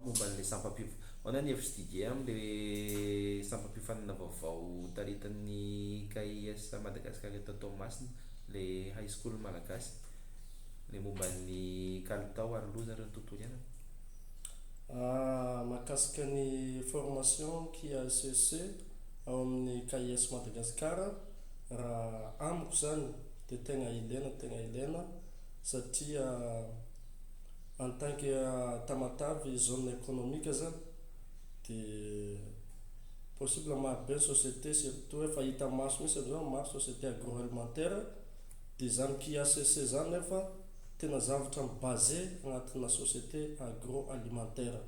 Momba an'ilay sampam-piof. Ahoana ny hevitr'i Didier amin'ilay sampam-piofanana vaovao taritin'ny KIS Madagascar eto Toamasina, ilay High School Malagasy, ilay momba ny kalitao ary loza ary ny tontolo iainana? Mahakasika ny formation KISC ao amin'ny KIS Madagascar, raha amiko izany dia tegna ilaina tegna ilaina satria En tant que Tamatave zone économique zany de possible maro be ny société surtout hoe efa hita maso mihitsy amzao ny maro société agroalimentaire de zany QACC zany nefa tena zavatra mi base agnatina société agroalimentaire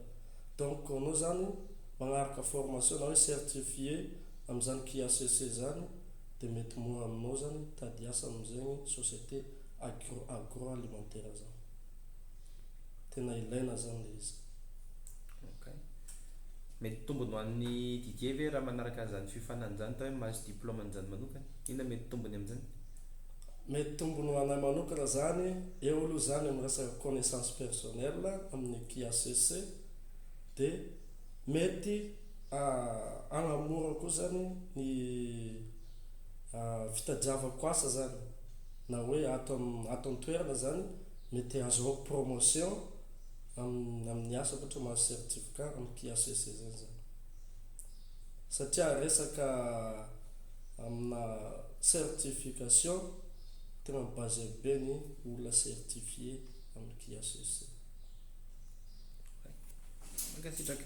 donc anao zany magnaraka formation na hoe certifié amzany QACC zany de mety mora aminao zany hitady asa amzegny société agro agroalimentaire zany. tena ilaina zany le izy. Ok. Mety tombony ho an'i Didier ve raha manaraka an'izany fiofanana izany atao hoe mahazo diplôme an'izany manokana? Inona mety tombony amin'izany? Mety tombony ho anay manokana izany, eo aloha izany amin'ny resaka connaissance personnelle amin'ny QACC, dia mety hagnamora koa izany ny fitadiavako asa izany. na hoe ato amin'ny ato an-toerana izany mety ahazoako promotion amin'ny amin'ny asako ohatra mahazo certificat amin'ny QHSE izany za satria resaka amina certification tegna mi-baser be ny olona certifier amin'ny QHSE. Mankasitraka.